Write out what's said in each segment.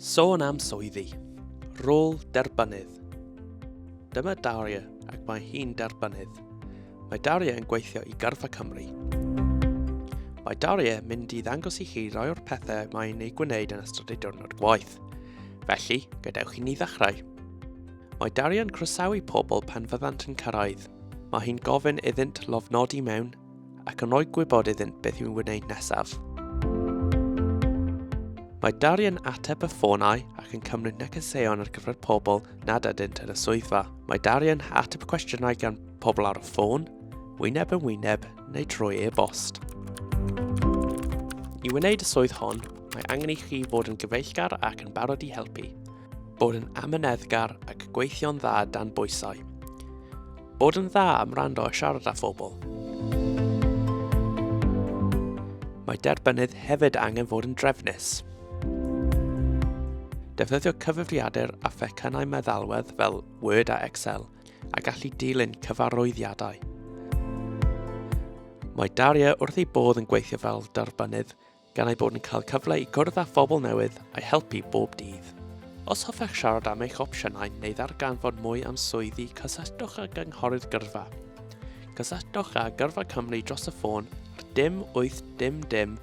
Sôn am swyddi. Rôl derbanydd. Dyma Daria ac mae hi'n derbanydd. Mae Daria yn gweithio i Garfa Cymru. Mae Daria mynd i ddangos i chi rai o'r pethau mae'n ei gwneud yn ystod ei diwrnod gwaith. Felly, gadewch i ni ddechrau. Mae Daria yn croesawu pobl pan fyddant yn cyrraedd. Mae hi'n gofyn iddynt lofnodi mewn ac yn rhoi gwybod iddynt beth i'w wneud nesaf. Mae Dari yn ateb y ffonau ac yn cymryd negeseuon ar gyfer pobl nad ydynt yn y swyddfa. Mae Dari yn ateb cwestiynau gan pobl ar y ffôn, wyneb yn wyneb neu trwy e-bost. I wneud y swydd hon, mae angen i chi fod yn gyfeillgar ac yn barod i helpu. Bod yn amyneddgar ac gweithio'n dda dan bwysau. Bod yn dda am rando a siarad â phobl. Mae derbynnydd hefyd angen fod yn drefnus. Defnyddio cyfrifiadur a phecynau meddalwedd fel Word a Excel a gallu dilyn cyfarwyddiadau. Mae Daria wrth ei bodd yn gweithio fel darbynydd gan eu bod yn cael cyfle i gwrdd â phobl newydd a'u helpu bob dydd. Os hoffech siarad am eich opsiynau neu ddarganfod mwy am swyddi, cysylltwch â gynghorydd gyrfa. Cysylltwch â Gyrfa Cymru dros y ffôn ar dim 8 dim dim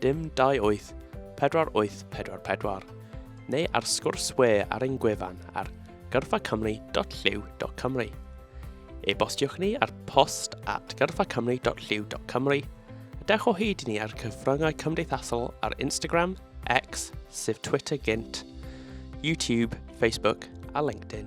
dim 28 4844 neu ar sgwrs we ar ein gwefan ar gyrfacymru.llyw.cymru E-bostiwch ni ar post at gyrfacymru.llyw.cymru a dewch o hyd i ni ar cyfryngau cymdeithasol ar Instagram, X, sef Twitter gynt, YouTube, Facebook a LinkedIn.